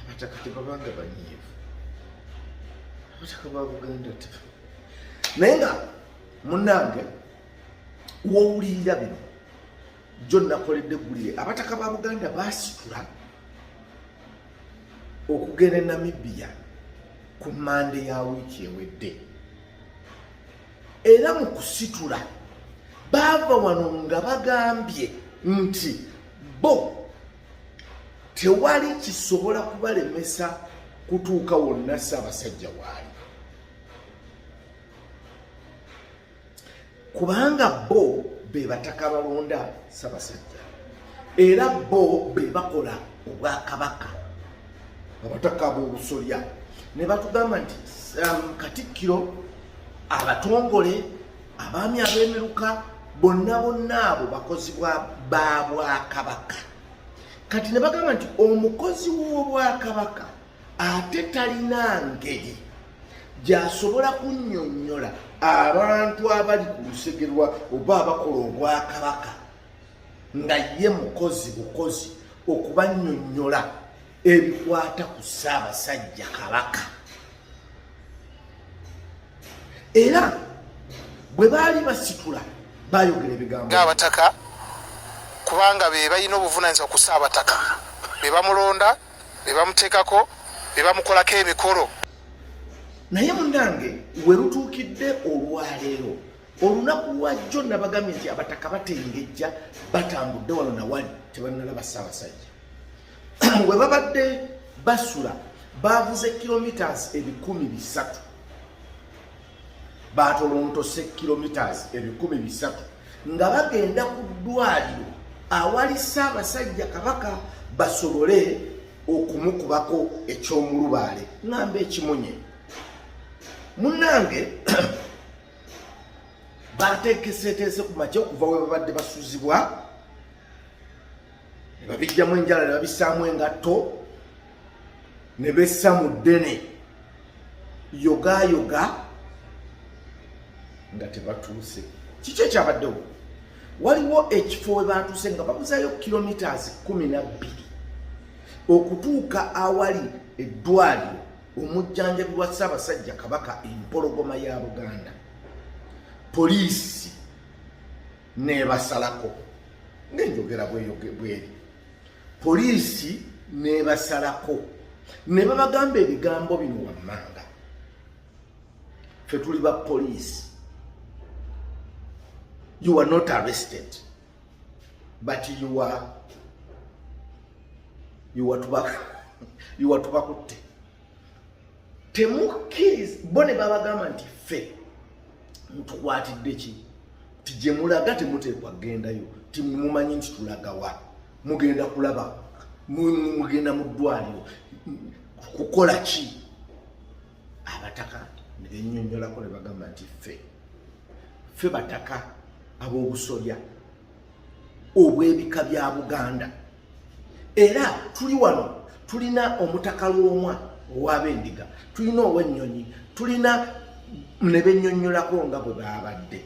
abataka tebabanga banyiivu abataka ba buganda naye nga munange wowulirira bino jo nakoledde eggulire abataka ba buganda basitula okugenda e namibia ku mande ya wiiki ewedde era mu kusitula baava wano nga bagambye nti bo tewali kisobola kubalemesa kutuuka wonna ssaabasajja waali kubanga bo be bataka balonda ssaabasajja era bo be bakola obwakabaka abataka b'obusolya ne batugamba nti um, katikkiro abatongole abaami ab'emiruka bonna bonna abo bakozi ba bwakabaka kati ne bagamba nti omukozi w'obwakabaka ate talina ngeri gyasobola kunnyonnyola abantu abali ku lusege lwa oba abakola obwakabaka nga ye mukozi bukozi okubannyonnyola ebikwata ku ssaabasajja kabaka era bwe baali basitula bayogera ebigambo ngaabataka kubanga be balina obuvunanyizibwa ku saabataka be bamulonda be bamuteekako be bamukolako emikolo naye munange we lutuukidde olwaleero olunaku lwajjo nabagambye nti abataka batengejja batambudde wano nawali tebanalaba ssaabasajja we babadde basula baavuze kilometres ebikumi bisatu baatolontose kilometres ebikumi bisatu nga bagenda ku ddwaliro awali ssaabasajja kabaka basobole okumukubako eky'omulubaale ngamba ekimunye munnange bateekeseteese ku makya okuva we babadde basuzibwa ne babijjamu enjala ne babissaamu engatto ne bessa mu ddene yogayoga nga tebatuuse kiki ekyabaddewo waliwo ekifo we baatuuse nga babuzayo kilomitas kumi na bbiri okutuuka awali eddwaliro omujjanjabi wa ssaabasajja kabaka empologoma ya buganda poliisi nebasalako ngenjogera bweri poliisi nebasalako ne babagamba ebigambo bino wammanga fe tuli ba poliisi you are not arrested but you are you are tubakutte temukkiriza bo ne babagamba nti ffe mutukwatidde ki ti gye mulaga temuteekwa kugendayo ti mumanyi nti tulagawa mugenda kulaba mugenda mu ddwaliro kukola ki abataka ne benyonyolako ne bagamba nti ffe ffe bataka ab'obusolya obw'ebika bya buganda era tuli wano tulina omutaka lwomwa owabendiga tulina owennyonyi tulina nebenyonyolako nga bwe baabadde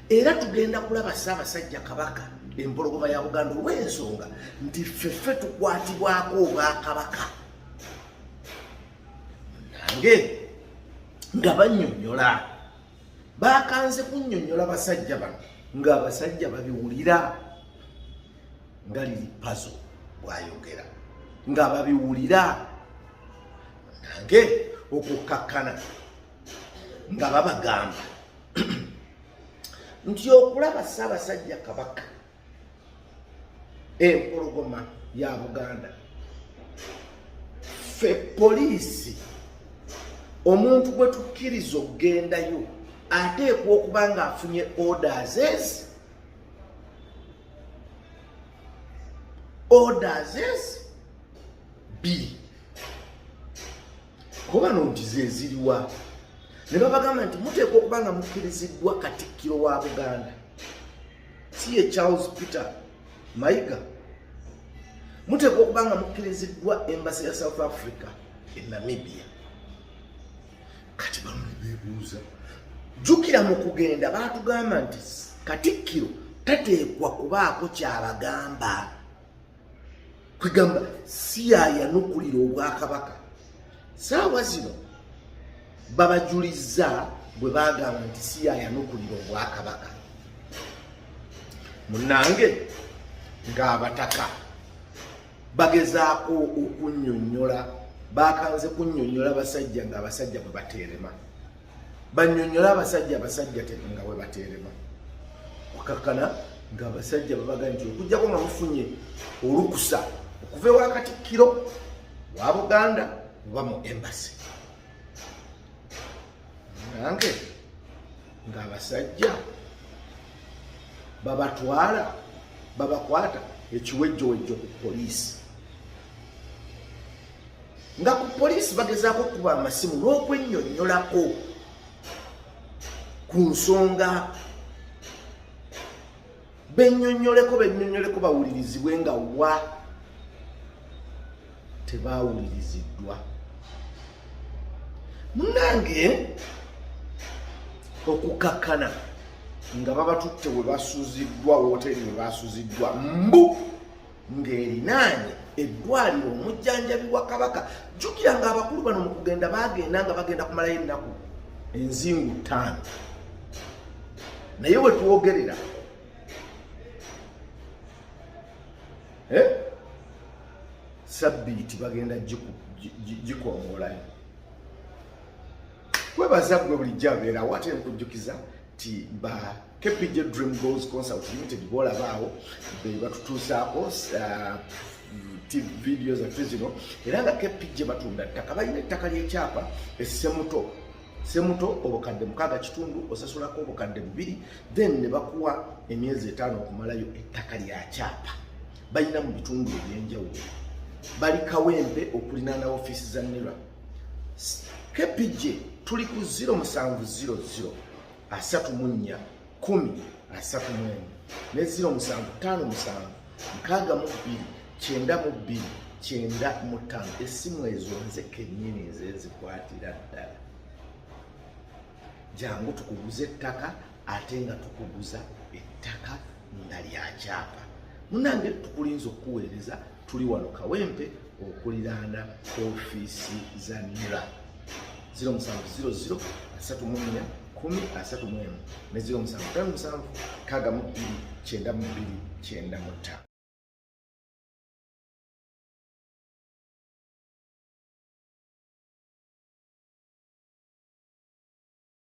era tugenda kulaba ssaabasajja kabaka empologoma ya buganda olw'ensonga nti ffeffe tukwatibwako obwakabaka nange nga banyonyola bakanze kunyonyola basajja bano nga abasajja babiwulira nga liri pazo bwayogera nga babiwulira nange okukkakkana nga babagamba nti okulaba ssaabasajja kabaka empologoma ya buganda ffe poliisi omuntu gwe tukkiriza okugendayo ateekwa okuba ng'afunye orders ezi orders ezi bbiri kuba no nti zeziriwa ne babagamba nti muteekwa okuba nga mukkiriziddwa katikkiro wa buganda si ye Charles Peter Mayiga muteekwa okuba nga mukkiriziddwa embasi ya South Africa e Namibia kati bamuli bebuuza jjukira mu kugenda baatugamba nti katikkiro tateekwa kubaako kyabagamba kwegamba siyayanukulira obwakabaka saawa zino babajulizza bwe bagamba nti siyayanukulira obwakabaka munange ng'abataka bagezaako okunyonyola bakanze kunyonyola basajja ng'abasajja bwe bateerema banyonyola abasajja abasajja nga webaterema okakana nga abasajja babaga nti okujjako nga mufunye olukusa okuva ewakatikkiro wa buganda oba mu embasi nange nga abasajja babatwala babakwata ekiwejjowejjo ku poliisi nga ku poliisi bagezaako okukuba amasimu n'okwennyonnyolako ku nsonga bennyonnyoleko bennyonnyoleko bawulirizibwe nga wa tebaawuliriziddwa munange okukakkana nga babatutte we basuziddwa woteeri we basuziddwa mbu ng'erinaanye eddwaliro omujjanjabi wa kabaka jjukira nga abakulu bano mu kugenda baagenda nga bagenda kumalayo ennaku enzingu ttaano naye we twogerera eh? sabbiiti bagenda gikongolayo kwebaza gwe bulijjo abeerawo ate nkujjukiza ti ba KPJ Dream Goals Concert Limited bwolabaawo be batutuusaako uh, video zaffe zino era nga KPJ batunda ttaka balina ettaka ly'ekyapa essemuto semuto obukadde mukaaga kitundu osasulako obukadde bubiri then ne bakuwa emyezi etaano okumalayo ettaka lya kyapa balina mu bitundu eby'enjawulo bali kawempe okulinaana ofiisi za nera KPJ tuli ku 0700 asatu mu nnya kumi asatu mu emu ne ziro musanvu ttaano musanvu nkaaga mu bbiri kyenda mu bbiri kyenda mu ttaano essimu ezo nze kennyini nze nzikwatira ddala jangu tukuguza ettaka ate nga tukuguza ettaka nga lyakyapa munange tukulinza okukuweereza tuli wano kawempe okuliraana ofiisi za nira 0700 3 kumi asatu mwemu ne 07 kaga mu bbiri kyenda mu bbiri kyenda mu ttaano